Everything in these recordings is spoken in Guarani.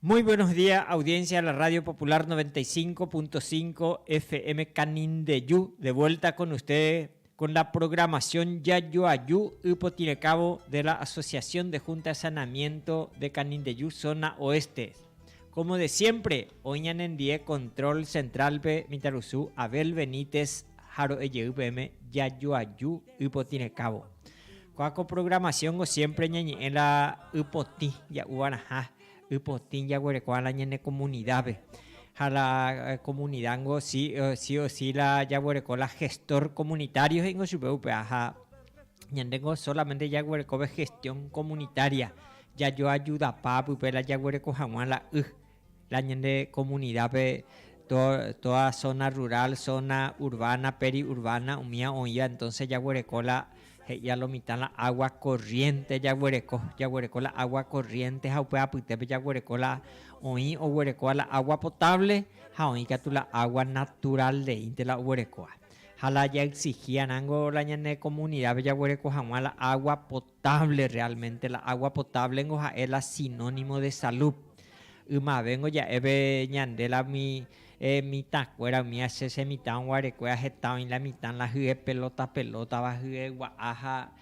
Muy buenos día audiencia de la Radio Popular 95.5 FM Canindeyu de vuelta con ustedes con la programación Jajoaju Ypotirecávo de la Asociación de Junta de Saneamiento de Canindeyu Zona Oeste. Como de siempre, oĩ ñanendie control central-pe mitãrusu Abel Benítez ha ro'ejey peẽme Jajoaju Ypotirecávo. Ko'ã ko programación-ko siempre ñañe'ẽ la ypotĩ ja'uvarãha. Ypotĩ jaguerekóva la ñane komunidápe, ha la komunida ningo si o si la jaguereko la gestor komunitário he'ingo chupe upéva. Ha ñande ningo sólamente jaguerekove gestión komunitária, jajoajudapa pype la jaguereko hag̃ua la y, la ñande komunidápe tóda zóna rural, zóna urbána, periurbána umíva oĩva entónse jaguereko la. He'i a lo mitã la agua corriente jaguereko, jaguereko la agua corriente ha upe apytépe jaguereko la oĩ oguerekóva la agua potable ha oĩ katu la agua natural reínte la oguerekóva. Ha la ja exigía rángo la ñane comunidápe jaguereko haguã la agua potable realmente, la agua potable ngo ha'e la sinónimo de salud. Ymavéngo ja'épe ñande la umi He mitã kuéra umi ache che mitã oguarekue aheta oĩ la mitã la hye pelota pelota va hye gua'a ha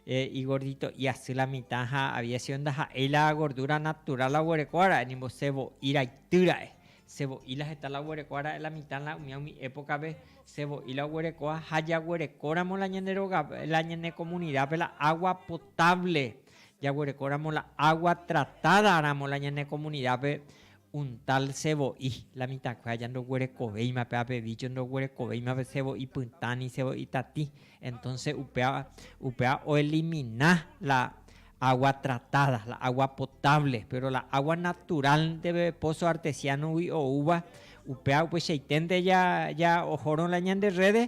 he igordito iasy la mitã ha había sido ndaha'éi la gordura natural la oguerekóva ra'e nimbo se vo'i raity ra'e se vo'i la heta la oguerekóva ra'e la mitã la umía umi época pe se vo'i la oguerekóva ha jaguereko ramo la ñane roga la ñane comunidad pe la agua potable jaguereko ramo la agua tratada ramo la ñane comunidad pe Un tal sevo'i, la mitãkue aja ndoguerekovéima péva pe vícho, ndoguerekovéima pe sevo'i pytã ni sevo'i tatĩ. Entónse upéva, upéva oelimina la água tratáda, la água potávle. Péro la água naturál ndéve pózo artesiánogui oúva, upéva upeichaiténte ja ohórõ la ñande rréde,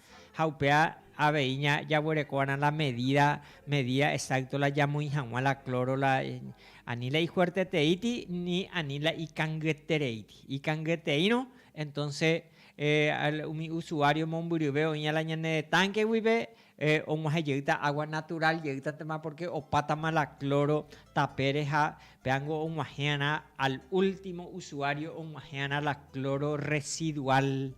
Ha upéva avei ña jaguereko va'erã la medida, medida exacto la jamoĩ haguã la cloro la ani la ifuerteteíti ni ani la ikangyetereíti. Ikangyeteírõ entonce umi usuario mombyryve oĩva la ñane tanque guive oguahẽ jeýta agua natural jeýtatema porque opátama la cloro tapére ha péango oguahẽ va'erã al ultimo usuario oguahẽ va'erã la cloro residual.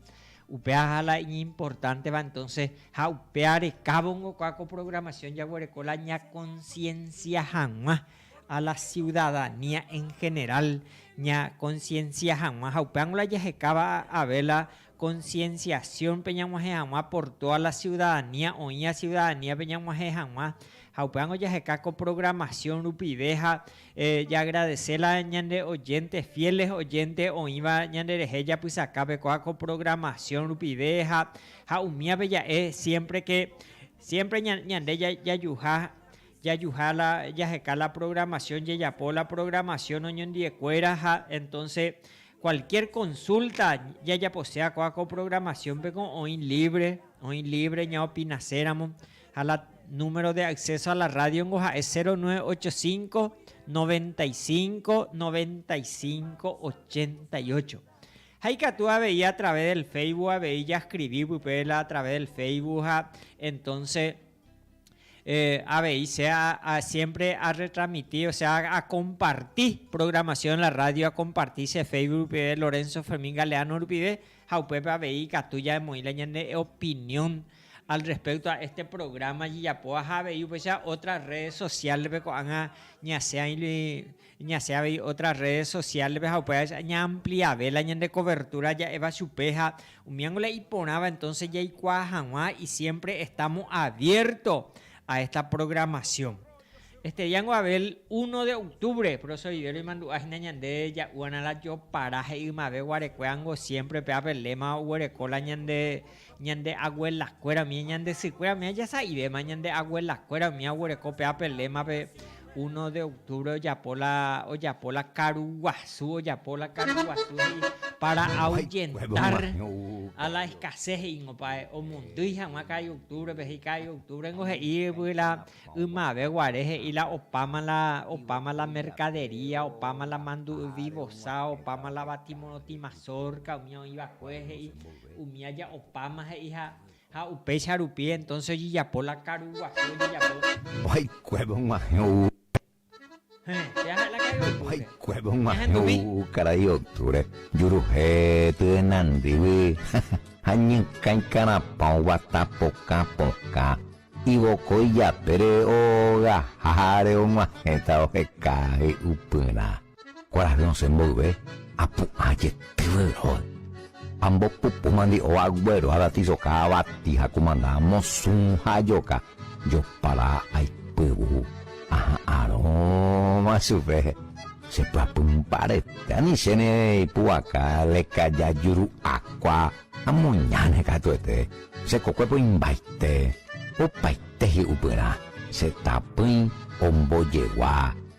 Upeaha la iñimportánteva entónse ha upéva rekávongo ko'ã ko programación jaguereko la ñakonsiensia hag̃ua a la ciudadanía en general ñakonsiensia hag̃ua ha upévango la jahekáva ave la konsienciación-pe ñag̃uahẽ hag̃ua por toda la ciudadanía oĩva ciudadanía-pe ñag̃uahẽ hag̃ua ha upévango jaheka ko programación rupive ha Jagradese la ñande oyénte fiéles oyénte oĩva ñanderehe japysakápe kóa ko programación rupive ha ha umívape ja'e siémpre ke siémpre ñande jajuha jajuha la jaheka la programación jajapo la programación oñondiekuéra ha entonce kualkiér konsulta jajaposéa kóa ko programaciónpe ko oĩ lívre oĩ lívre ñaopinaséramo Ha la número de acceso a la radio-nko ha'e 0985 95 95 88. Ha ikatu avei a través del Facebook avei jascribi pype la a través del Facebook ha entonce avei se siempre a retransmiti, osea a comparti programación de la radio a comparti che Facebook rupive Lorenzo Fermin Galeano rupive. ha upépe avei ikatu jaemoĩ la ñane opinión al respecto a este programa jejapóva ha avei upéicha otras redes sociales-pe ko'ág̃a ñasẽ aĩli, ñasẽ avei otras redes sociales-pe ha upéva aja ñaampliave la ñande cobertura ja'éva chupe ha umíango la iporãva entonces jaikuaa hag̃ua y siempre estamos abierto a esta programación. Este día ngo Abel uno de octubre, pero sobivero imandu'a hína ñande ja'úg̃arã la jopara he'i ymave guarekue ángo siempre pe Abel léma oguereko la ñande ñande aguelakue umi ñande sykue umi ajasa'ivéma ñande aguelakue umi aguereko pe Abel lémape uno de octubre ojapo la ojapo la karu guasu ojapo la karu guasu he'i para ahuyentar a la escasez he'ingo pa'e omondýi hag̃ua ka'i octubre-pe he'i ka'i octubre ngo he'i la Ymave guare he'i la opáma la opáma la mercadería, opáma la mandu'yvi vosa, opáma la batimorotĩ mazorca, umi oĩ va'ekue he'i, umi aja opáma he'i ha, ha upéicha rupi entonce ojejapo la karu guasu ojejapo. Va'ekuépe og̃uahẽ ou Ha'ekuépe og̃uahẽ ou karai octubre juruhe tyenandýgui ha ñykã ikarapã oguata pokã pokã ivokói japére ogaháre og̃uahẽta oheka hi'upyrã. Kuarahy osẽ mboyve apu'ã jetygue róga. Ambopupu mandi'óva aguero aratisoka avati ha kumanda amosũ ha ajoka jopara aipyvu aha'arõva chupe. Chepy'apy mbarete ani chéne ipu'aka lekaja juru'akua amoñáne katuete. Che kokuépe oĩmbaite opaite hi'upyrã. Che tapỹi ombojegua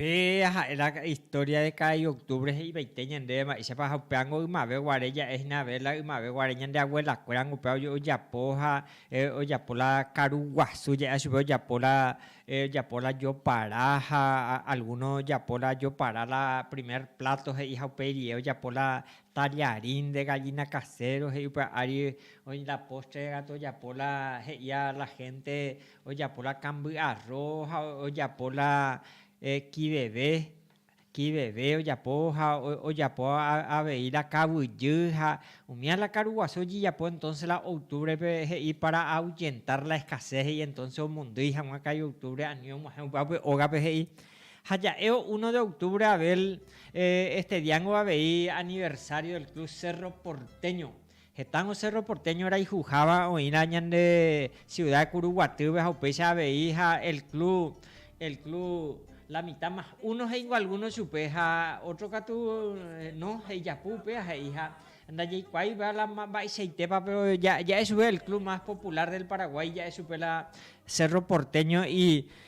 Pe aha'e la historia de cada ioctubre he'ivaite ñandéve mba'éichapa ha upévango ymave guare ja'e hína vela ymave guare ñande abuela kuérango upéva ojapo ha ojapo la karu guasu je'éva chupe ojapo la ojapo la jopara ha alguno ojapo la jopara la primer plato he'i ha upéi rie ojapo la tallarin de gallina casero he'i upe ári oĩ la postre gatu ojapo la he'ia la gente Ojapo la kamby arro ha ojapo la kiveve, kiveve ojapo ha ojapo avei la kavyjy ha umía la karuguasu ojejapo entonce la octubre pe he'i para ahuyentar la escasez he'i entonce omondýi hag̃ua ka'i octubre ani og̃uahẽ upe ápe ógape he'i ha ja'évo uno de octubre Abel este diángo avei aniversario del club Cerro Porteño Hetãngo Cerro Porteño rayhuháva oĩrã ñande ciudad de Curuguatýpe ha upéicha avei ha el club, el club La Mitad Más Uno he'ingo alguno chupe ha otro katu no he'ijapu upéva he'iha ndajaikuaaipa la mba'eichaitépa pero ja'e chupe el club más popular del Paraguay ja'e chupe la Cerro Porteño y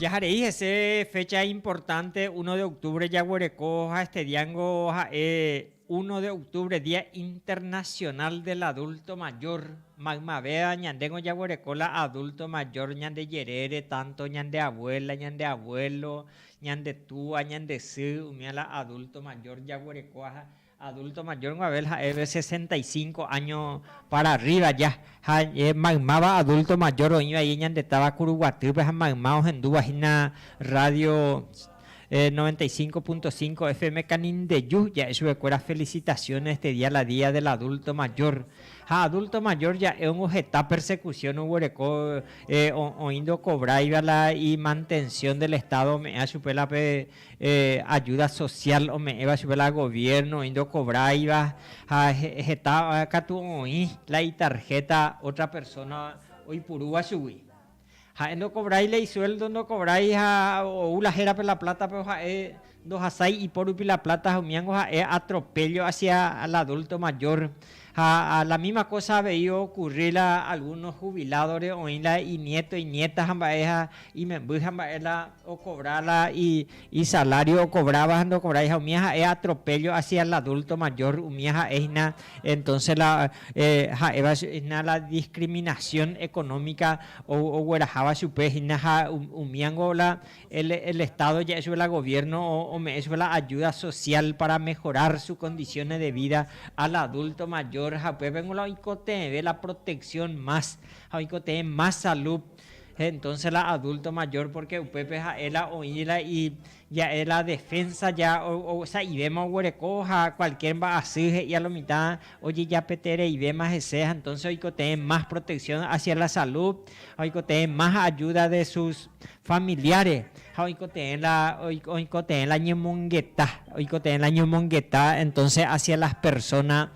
Jaharei hese fecha importante uno de octubre jaguereko ha este diango ha'e uno de octubre dia internacional del adulto mayor maymavéva ñandéngo jaguereko la adulto mayor ñande jerére tanto ñande abuela ñande abuelo Ñande túa, ñande sy, umi a la adulto mayor jaguereko ha adulto mayor guavel ha'e ve sesenta y cinco año para arriba ya. Ha maymáva adulto mayor oĩ vaie ñande táva Kuruguatýpe ha mayma ohendúva hína radio noventa y cinco punto cinco FM Canindeyu, ja'e chuve kuéra felicitaciones este día la día del adulto mayor. Ha adulto mayor ja'éungo heta persecución oguereko oĩ ndokobraiva la imantención del Estado ome'ẽva chupe la pe ayuda social ome'ẽva chupe la gobierno oĩ ndokobraiva ha heta katu oĩ la itarjeta otra persona oipurúva chugui. Ha'e ndokovrái la isuéldo, ndokovrái ha ou la hérape la pláta, péro ha'e ndohasái ipo rupi la pláta ha umíngo ha'e atropéllo hasia al adúlto majór. Ha la míma kósa avei okurri la algúno huviládore oĩ la iniéto, iniéta ha mba'e ha imemby ha mba'e la. okovra la isalário okovráva ha ndokovrái, ha umíva ha'e atropéllo hasia el adúlto majór, umíva ha'e hína entónse la ha'éva hína la diskriminasión ekonómika ogueraháva chupe hína ha umíva ningo la el Estádo ja'e chupe, la goviérno ome'ẽ chupe la ayúda sosiál pára omehorár sus kondisiónes de vida al adúlto mayor ha upépe ningo la oikotevẽ la proteksión más ha oikotevẽ más salú. entonces la adulto mayor porque upépe ha'e la oĩ la i ja'e la defensa ya sa'ivéma oguereko ha cualquier mba'asy he'i a lo mitã ojejapetereivéma hese ha entonces oikotevẽ más protección hacia la salud ha oikotevẽ más ayuda de sus familiares ha oikotevẽ la oikotevẽ la ñemongeta oikotevẽ la ñemongeta entonces hacia las personas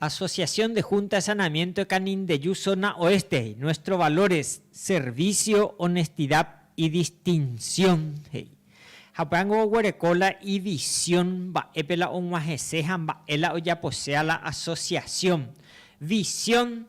Asociación de Junta de Saneamiento de Canindeyu Zona Oeste, he'i, Nuestros valores, servicio, honestidad y distinción, he'i. Haupérãngo oguereko la ivisión mba'épe la og̃uahẽse ha mba'e la ojaposéva la asociación. Visión.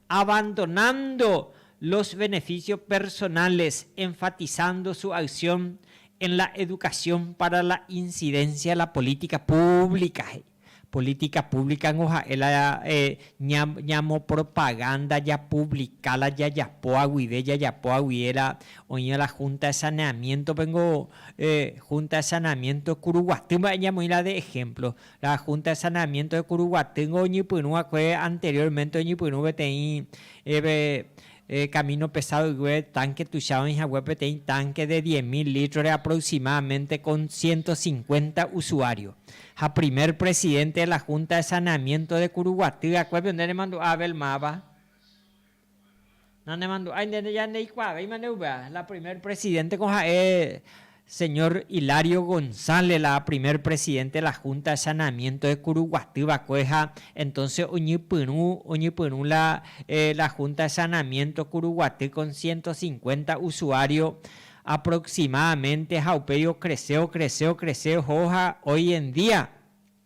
abandonando los beneficios personales, enfatizando su acción en la educación para la incidencia de la política pública, he'i. Política pública ningo ha'e la ñamopropaganda, japublika la jajapóva guive, jajapóva guive la oĩva la Junta de Saneamiento-pe ningo Junta de Saneamiento kuruguaty mba'e ñamoĩ la de ejemplo. La Junta de Saneamiento de Curuguatyngo oñepyrũ va'ekue anteriormente oñepyrũ peteĩ camino pesadoygue tanque tuicha oĩ hague peteĩ tanque de diez mil litros de aproximadamente con ciento cincuenta usuario. Ha primer presidente de la Junta de Saneamiento de Curuguaty va'ekue pende remandu'a Abel máva. Nanemandu'ái ndéne ja ndeikuaavéima nde upéva. La primer presidente ko ha'e señor Hilario González, la primer presidente de la Junta de Saneamiento de Curuguaty va'ekue ha entonce oñypyrũ, oñypyrũ la, la Junta de Saneamiento Curuguaty con ciento cincuenta usuario aproximadamente ha upéi ocrece, ocrece, ocrece oho ha hoy en día,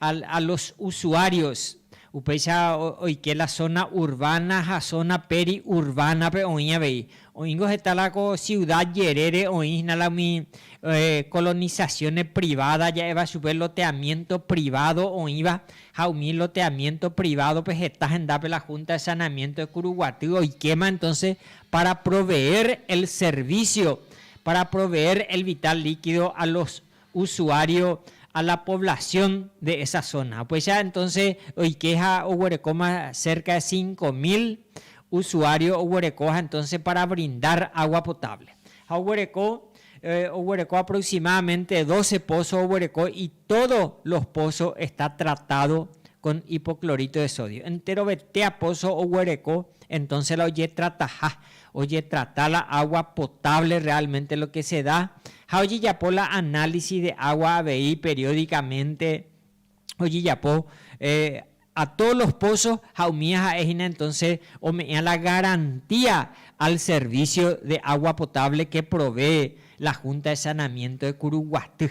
A los usuarios, upéicha oike la zona urbana ha zona peri urbana-pe oĩ avei. Oĩngo heta la ko ciuda jerére oĩ hína la umi colonizaciones privada ja'éva chupe loteamiento privado oĩva ha umi loteamiento privado-pe heta hendápe la Junta de Saneamiento de Curuguaty oikéma entonces para proveer el servicio, para proveer el vital líquido a los usuario a la población de esa zona. Upéicha entonce oike ha oguerekóma cerca de cinco mil usuario oguereko ha entonce para brindar agua potable. Ha oguereko, oguereko aproximadamente doce pozo oguereko y todo los pozo está tratado con hipoclorito de sodio. Enterovete a pozo oguereko entonce la ojetrataha ojetrata la agua potable realmente lo que se da ha ojejapo la análisis de agua avei periódicamente ojejapo a todos los pozos ha umíva ha'e hína entonces ome'ẽva la garantía al servicio de agua potable que provee la Junta de Sanamiento de Curuguaty.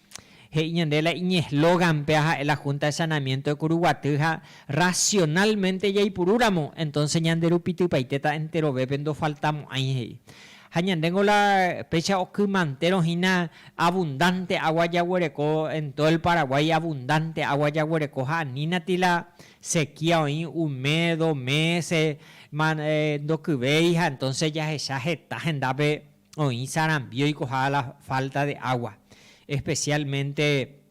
He'i ñande la iñeslóganpe aha'e la Junta de Saneamiento de Curuguaty ha racionalmente jaipurúramo, entonces ñande rupi typaitéta enterovépe ndofaltamo'ãi, he'i. Ha ñandéngo la péicha okymantéro hína abundante agua jaguereko en todo el Paraguay abundante agua jaguereko ha anínati la sequía oĩ un mes, dos meses, ndokyvéi ha entonces jahecha heta hendápe, oĩ sarambi oikoha la falta de agua, especialmente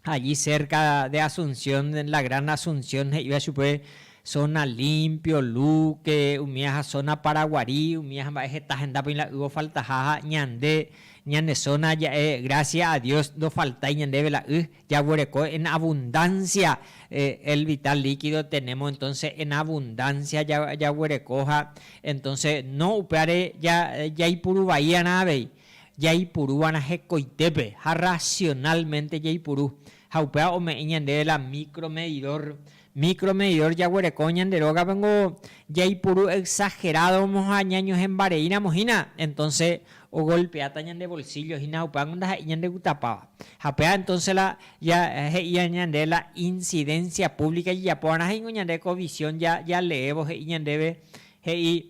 allí cerca de Asunción, la gran Asunción he'iva chupe, zona limpio, Luque, umíaha zona Paraguarí, umíaha mba'e heta henda peĩ la y ofaltaha ha ñande ñane zona ja'e gracias a Dios ndofaltái ñandéve la y, Jaguereko en abundancia el vital líquido tenemos entonces en abundancia jaguerekoha entonces no upévare jaipuru vaíarã avei, jaipurúva'erã hekoitépe ha racionalmente jaipuru ha upéva ome'ẽ ñandéve la micro medidor Micromedidor jaguereko ñande rógapengo jaipuru exagerado-mo ha ñañohẽmbareíramo hína, entonce ogolpeáta ñande bolsillo hína upévango ndaha'éi ñandegutapáva. Ha péva entonce la ja he'i ñande la incidencia pública jejapóva'erã ha ingo ñande ko visión ja jaleévo he'i ñandéve, he'i.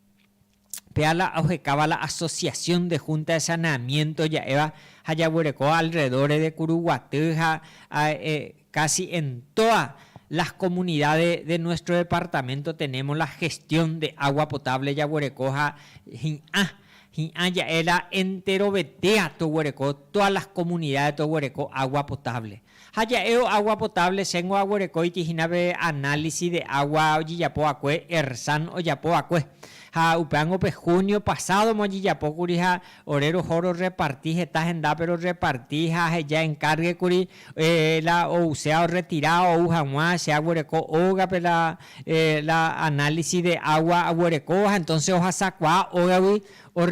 Péva la ohekáva la Asociación de Junta de Saneamiento ja'éva ha jaguereko alrededores de Curuguaty ha casi en todas las comunidades de nuestro departamento tenemos la gestión de agua potable jaguereko ha hi'ã, hi'ã ja'e la enterovetéa toguereko, todas las comunidades toguereko agua potable. Ha ja'évo agua potable chéngo aguerekóiti hína pe análisis de agua ojejapo vakue Ersan ojapo vakue. Ha upéango pe junio pasado mo ojejapo kuri ha ore roho ro reparti heta hendápe ro reparti ha aheja encargue kuri la ousea o retira ou haguã che aguereko ógape la la análisis de agua aguerekóva ha entonces ohasakuaa ógagui o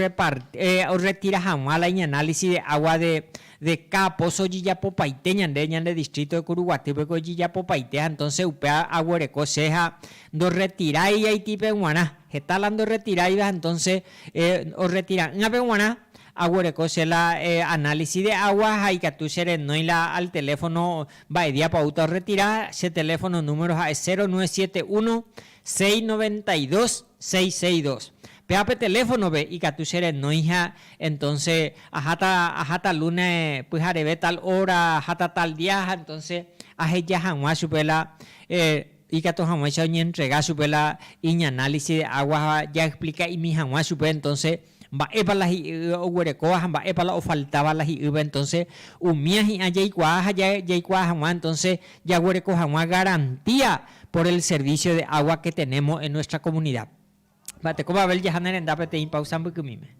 retira haguã la iñanálisis de agua de Deka, póso ojejapopaite ñande, ñande distríto de Curuguatýpeko ojejapopaite ha entónse upe aguereko che ha ndorretirái Haitipe g̃uarã. Heta la ndorretiráiva ha entónse orretira'ỹape g̃uarã aguereko che la análisis de agua ha ikatu che renói la al teléfono mba'ediápa oúta orretira, che teléfono número ha'e cero nueve siete uno, 692 662. Péva pe teléfonope ikatu che renóiha, entonce aháta, aháta luna pyhareve tal hora, aháta tal día ha entonce aheja hag̃ua chupe la ikatu hag̃uáicha oñeentrega chupe la iñanálisis de aguasva, jaexplika'imi hag̃ua chupe entonce Mba'épa la hi'y oguerekóva ha mba'épa la ofaltáva la hi'ýpe, entonce umía hi'ã jaikuaa ha jaikuaa hag̃ua, entonce jaguereko hag̃ua garantía por el servicio de agua que tenemos en nuestra comunidad. Mba'ete ko Babel jaha ne renda peteĩ pausa mbykymíme.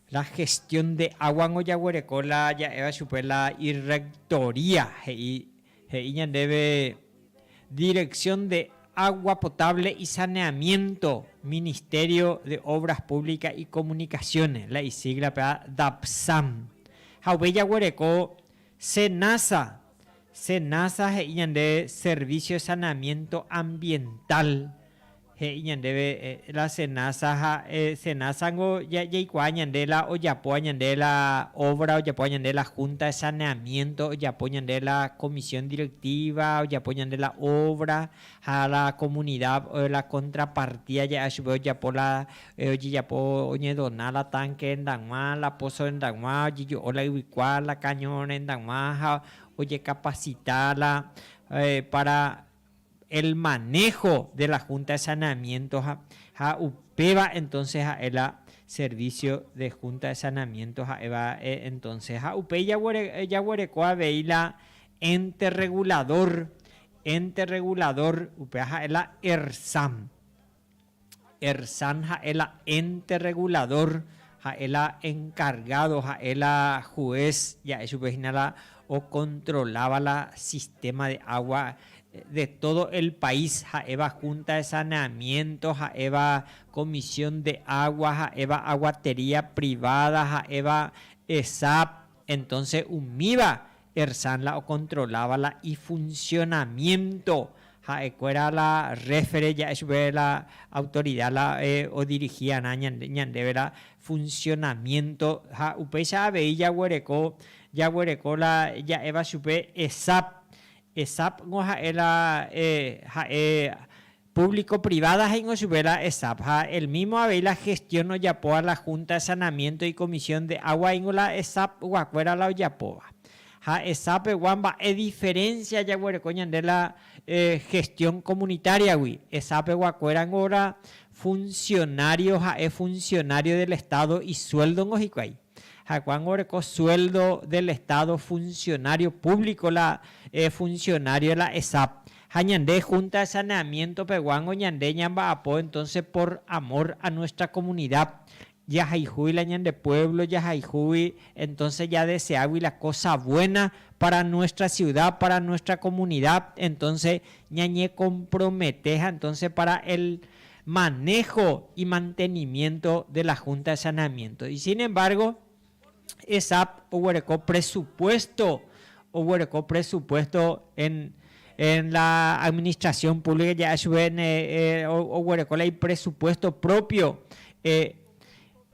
La gestión de aguango jaguereko la ja'éva chupe la irrectoría he'i he'i ñandéve Dirección de agua potable y saneamiento Ministerio de Obras Públicas y Comunicaciones la isigla pe'a Dapsam ha upéi jaguereko Senasa Senasa he'i ñande Servicio de Saneamiento Ambiental He'i ñandéve, la cenaza ha cenaza niko jaikuaa ñande la ojapóva ñande la obra ojapóva ñande la junta de saneamiento ojapo ñande la comisión directiva ojapo ñande la obra ha la comunidad la contrapartida ja'a chupe ojapo la ojejapo oñedona la tanque rendag̃ua la pozo rendag̃ua ojejo'o la yvykua la caño rendag̃ua ha ojecapacita la para el manejo de la Junta de Saneamiento ha ha upéva entonces ha'e la servicio de Junta de Saneamiento ha'éva entonces ha upéi jaguereko avei la ente regulador, ente regulador upéva ha'e la ERSAM. Ersan ha'e la ente rreguladór, ha'e la enkargádo, ha'e la jués, ja'e chupe hína la okontroláva la sistéma de água de tódo el pais, ha'éva Húnta de Saneamiénto, ha'éva Komisión de Água, ha'éva Aguatería Priváda, ha'éva Esap. Entónse umíva Ersan la okontroláva la ifunsionamiénto, ha'ekuéra la réfere ja'e chupe la autorida la odirihíarã ñandéve la funsionamiénto, ha upéicha avei jaguereko, jaguereko la ja'éva chupe ESAP. ESAP-g̃uaha'e la ha'e Público privada he'ingo chupe la ESAP ha el mismo avei la gestión ojapóva la Junta de Sanamiento y Comisión de Agua ingo la ESAP guakuéra la ojapóva. Ha ESAP pegua mba'e diferencia jaguereko ñande la gestión comunitaria gui. ESAP pegua kuéra ngo la funcionario ha'e funcionario del Estado y sueldo ngo hikuái. Ha'ekuángo oreko sueldo del Estado funcionario público la funcionario de la ESAP. Ha ñande Junta de Saneamiento peguángo ñande ñamba'apo entonces por amor a nuestra comunidad, jahayhúgui la ñande pueblo, jahayhúgui entonces jadeseágui la cosa buena para nuestra ciudad, para nuestra comunidad, entonces ñañecompromete ha entonces para el maného y mantenimiento de la Junta de Saneamiento. Y sin embargo, ESAP oguereko presupuesto, oguereko presupuesto en en la administración pública ya HVN eh, oguereko la ipresupuesto propio eh,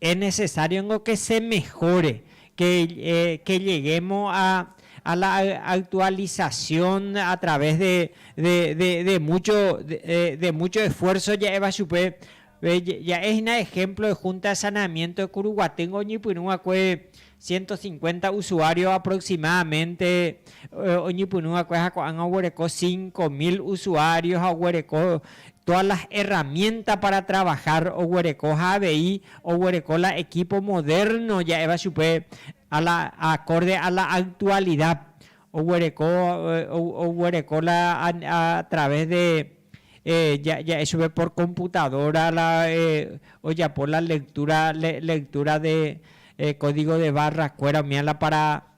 Es necesario ngo que se mejore, que que lleguemos a a la actualización a través de de de de mucho de de mucho esfuerzo ja'éva chupe. Ja'e hína ejemplo de Junta de Saneamiento de Curuguaty ngo oñepyrũ va'ekue Ciento cincuenta usuario aproximadamente oñepyrũ va'ekue ha ko'ág̃a oguereko cinco mil usuario ha oguereko todas las herramientas para trabajar oguereko ha avei oguereko la equipo moderno ja'éva chupe a la acorde a la actualidad Oguereko, oguereko la a través de ja'e chupe por computadora la ojapo la lectura, lectura de código de barra kuéra ome'ã la para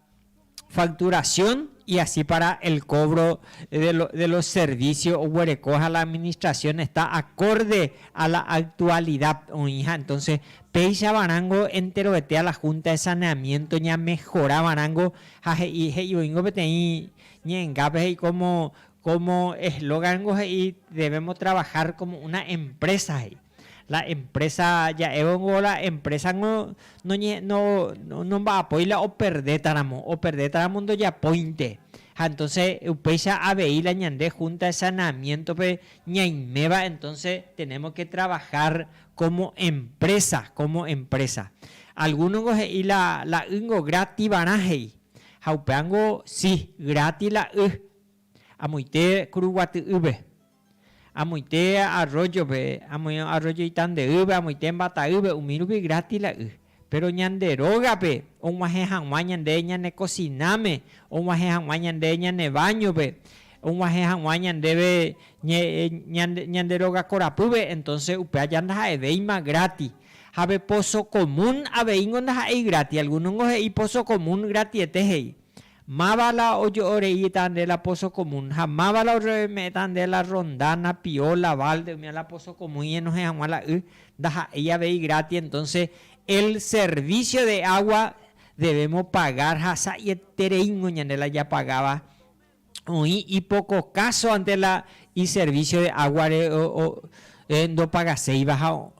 facturación y asi para el cobro de los servicios oguereko ha la administración está acorde a la actualidad oĩha entonces péichava rango enteroetéa la Junta de Saneamiento ñamejorava rango ha he'i he'ivoingo peteĩ ñe'ẽngápe he'i kómo kómo eslógango he'i devémo travahár kómo una emprésa he'i. La emprésa ja'évongo la emprésango noñe no nomba'apói la operdétaramo, operdétaramo ndojapóinte. Ha entónse upéicha avei la ñande húnta de saneamiéntope ñaiméva entónse tenémo ke travahár Como empresa, como empresa. Alguno-ngo he'i la, la y-ngo grativarã he'i. Ha upévango, si, gráti la y. Amoite Kuruguaty'ýpe, amoite arroyo-pe, amoite arroyo Itande'ýpe, amoite mbata'ýpe, umi rupi gráti la y. Péro ñande rógape og̃uahẽ hag̃ua ñande ñane kosináme, og̃uahẽ hag̃ua ñande ñane váñope, og̃uahẽ hag̃ua ñandéve ñande róga korapýpe, entónse upéva ja ndaha'evéima grátis. Ha pe poso komún aveíngo ndaha'éi grátis. Algúnongo he'i poso komún gratiete he'i. Máva la ojo'o reíta nde la pozo común, ha máva la orreoime'ẽta nde la ronda, napio, la balde umi la pozo común iñenohẽ hag̃ua la y, ndaha'éi avei grátis, entonces el servicio de agua debemos pagar ha sa'ietereíngo ñande la japagáva oĩ ipoko káso ante la iservicio de águare ndopagaséiva ha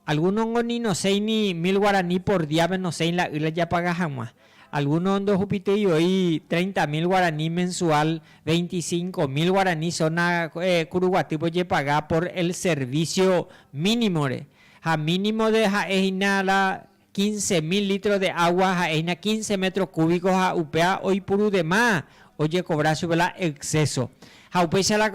Algúnongo ni nosẽi ni mil guarani por díape nosẽi la y la japaga hag̃ua. Algúno ndohupitýi voi treinta mil guarani mensual, veinticinco mil guarani zona kuruguatýpe ojepaga por el servicio mínimore. Ha mínimo de ha'e hína la Quince mil litros de agua ha'éina quince metros cúbicos ha upéa oipuru dema ojecobra chupe la exceso. Ha upéicha la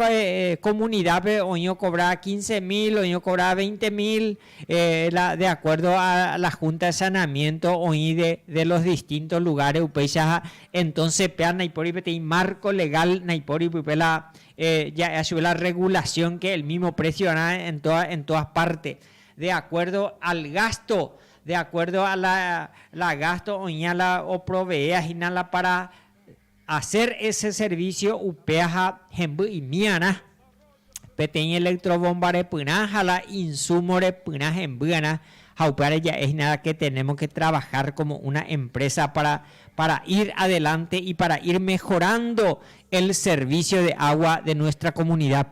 comunidad-pe oĩ ocobra quince mil, oĩ ocobra veinte mil la de acuerdo a la junta de saneamiento oĩ de los distintos lugares upéichaha. Entonces péa naipóri peteĩ marco legal, naipóri pype la ja'éa chupe la regulación que el mismo precio rã en todas partes. de acuerdo al gasto, de acuerdo a la, la gasto oĩva la oproveea hína la para hacer ese servicio upéva ha hemby imíarã, peteĩ electrobomba repyrã ha la insumo repyrã hembýarã, ha upévare ja'e hína la que tenemos que trabajar como una empresa para, para ir adelante y para ir mejorando el servicio de agua de nuestra comunidad.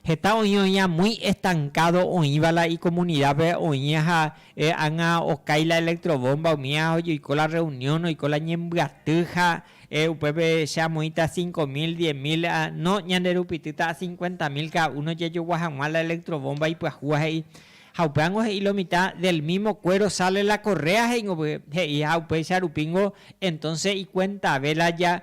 Heta oĩ oĩha muy estancado oĩva la icomunidápe oĩha ha e ág̃a okái la electrobomba umíva oiko la reunión oiko la ñembyaty ha e upépe che amoĩta cinco mil, diez mil ha no ñanderupitýta a cincuenta mil cada uno jajogua hag̃ua la electrobomba ipyahúva he'i ha upévango he'i lo mitad del mismo cuero sale la correa he'ingo pype he'i ha upéicha rupíngo entonce icuentave la ja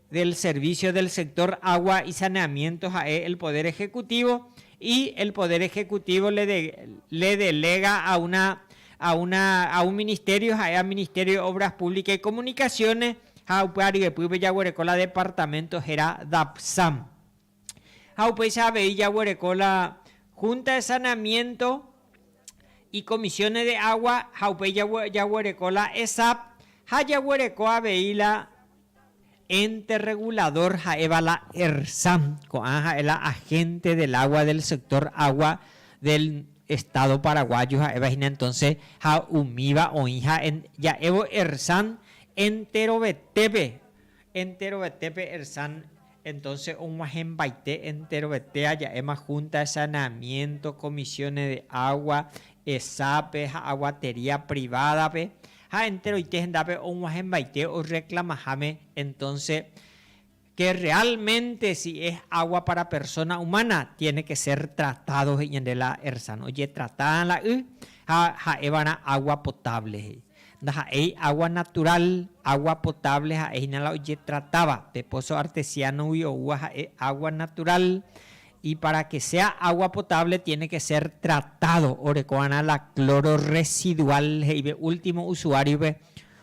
del Servicio del Sector Agua y Saneamiento ha'e el Poder Ejecutivo y el Poder Ejecutivo le de, le delega a una, a una, a un Ministerio ha'e a Ministerio de Obras Públicas y Comunicaciones ha upe aryepýpe jaguereko la Departamento hera Dapsam. Ha upéicha avei jaguereko la Junta de Saneamiento y Comisiones de Agua ha upéi jaguereko la ESAP ha jaguereko avei la Ente Regulador ha'éva la ERSA, ko'ã ha'e la Agente del Agua del Sector Agua del Estado Paraguayo ha'éva hína entonces ha umíva oĩ ha ja'évo ERSA enterovetépe Enterovete pe Ersan entonce og̃uahẽmbaite enterovete aja'éma Junta de Saneamiento, Comisiones de Agua, Esape ha Aguatería Privada-pe ha enteroite hendápe og̃uahẽmbaite orreclamaháme entonce que realmente si es agua para persona humana tiene que ser tratado he'i ñande la Ersan ojetrata la y ha ha'évarã agua potable he'i. Ndaha'éi água naturál, água potable ha'e hína la ojetratáva. Pe póso artesiánogui oúva ha'e água naturál, y pára ke séa água potable tiene ke sér tratádo oreko va'erã la cloro residual he'ive último usuáriope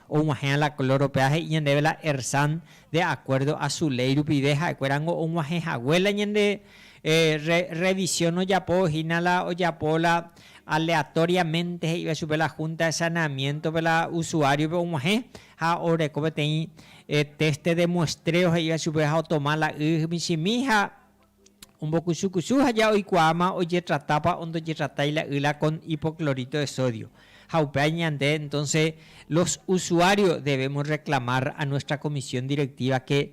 og̃uahẽva la cloro. Péva he'i ñandéve la Ersan de akuérdo a su léi rupive ha'ekuéra niko og̃uahẽ hague la ñande Rrevisión ojapo hína la ojapo la aleatoriamente he'iva chupe la Junta de Saneamiento-pe la usuario-pe og̃uahẽ ha oreko peteĩ test de muestreo he'iva chupe ha otoma la y michĩmi ha ombokusu kusu ha ja oikuaáma ojetratápa o ndojetratái la y la con hipoclorito de sodio. Ha upéva ñande entonces los usuarios debemos reclamar a nuestra Comisión Directiva que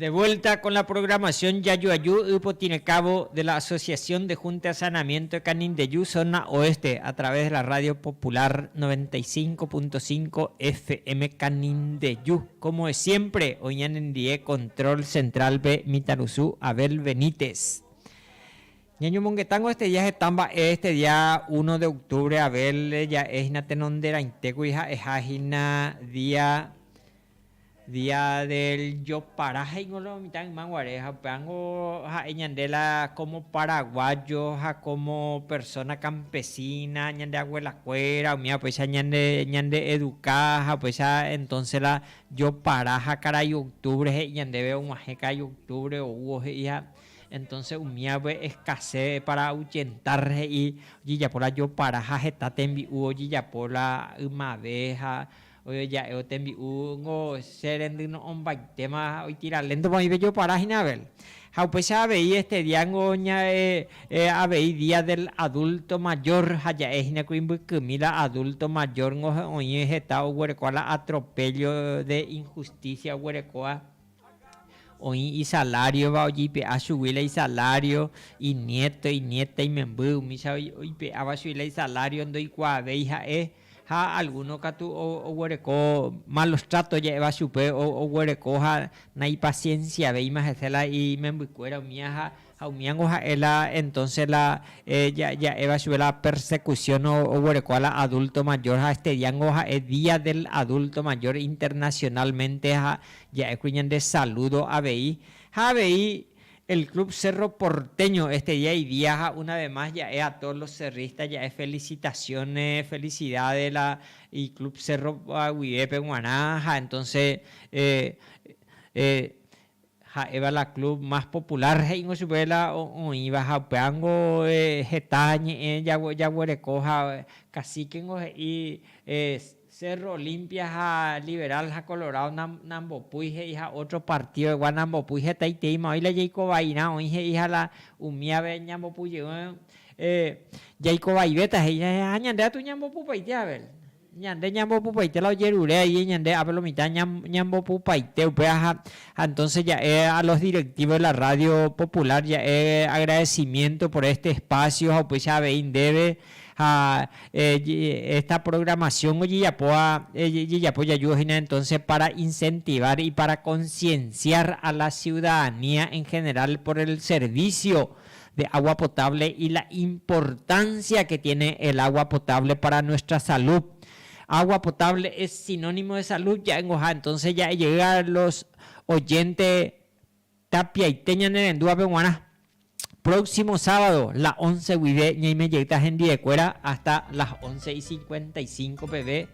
De vuelta con la programación Jajuaju y Potinekávo de la Asociación de Junta de Saneamiento de Canindeju Zona Oeste a través de la Radio Popular 95.5 FM Canindeju. Como de siempre, oñanendie control central-pe mitãrusu Abel Benítez. Ñañomongetángo este día heta mba'e, este día uno de octubre Abel ja'e hína tenonderãitékuri ha'eha hína día Día del Jopara he'íngo lo mitã yma guare, ha upévango ha'e ñande la kómo paraguáyo ha kómo persóna kampesína, ñande aguelakuéra umíva upéicha ñande ñande'eduka ha upéicha entónse la Jopara ha karai oktúvre he'i ñandéve og̃uahẽ karai oktúvre oúvo he'i ha entónse umívape eskase pára auchentar he'i ojejapo la Jopara ha heta tembi'u ojejapo la ymave ha Ojoja'évo tembi'u ngo che rendy no'õmbaitéma oitira léntopa oĩ pejopara hína Abel. Ha upéicha avei éste día ngo avei día del adulto mayor ha ja'e hína kuri mbykymi la adulto mayor ngo oĩ heta oguerekóva la atropello de injusticia oguerekóva, Oĩ isalariova ojipe'a chugui la isalario, inieto, inieta, imemby, umícha oipe'áva chugui la isalario ndoikuaavéi ha'e, ha alguno katu oguereko malos trato ja'éva chupe, oguereko ha naipasienciavéima hese la imembykuéra umíva ha Ha umíango ha'e la entonces la ja'éva chupe la persecución oguerekóva la adulto mayor ha este diango ha'e día del adulto mayor internacionalmente ha ja'ékuri ñande saludo avei ha avei el club Cerro Porteño este día y día ha una vez más ja'e a todos los cerristas ja'e felicitaciones felicidades la y club Cerro guivépe guarã ha entonces Ha'éva la club más popular he'íngo chupe la oĩva ha upévango heta ñe'ẽ jaguereko ha caciquengo he'i Cerro Olimpia ha Liberal ha Colorado nambopúi he'i ha otro partido-egua nambopúi hetaiteíma oĩ la jaikovairã oĩ he'i ha la umíave ñambopujevẽ jaikovaivéta he'i ha ñande atu ñambopupaite Abel. Ñande ñambopupaite la ojerure ahí ñande ápe lo mitad ñambopupaite upe ha entonces ja'e a los directivos de la radio popular ja'e agradecimiento por este espacio ha upéicha avei ndéve ha esta programación ojejapóva ejejapo jajúva hína entonces para incentivar y para concienciar a la ciudadanía en general por el servicio de agua potable y la importancia que tiene el agua potable para nuestra salud. Agua potable es sinónimo de salud ja'éngoha, entonces ja'ejeyga los oyente Tapiaite ñanerendúvape guarã. Próximo sábado la once guive ñaimejeyta hendivekuéra hasta las once y cincuenta y cinco peve.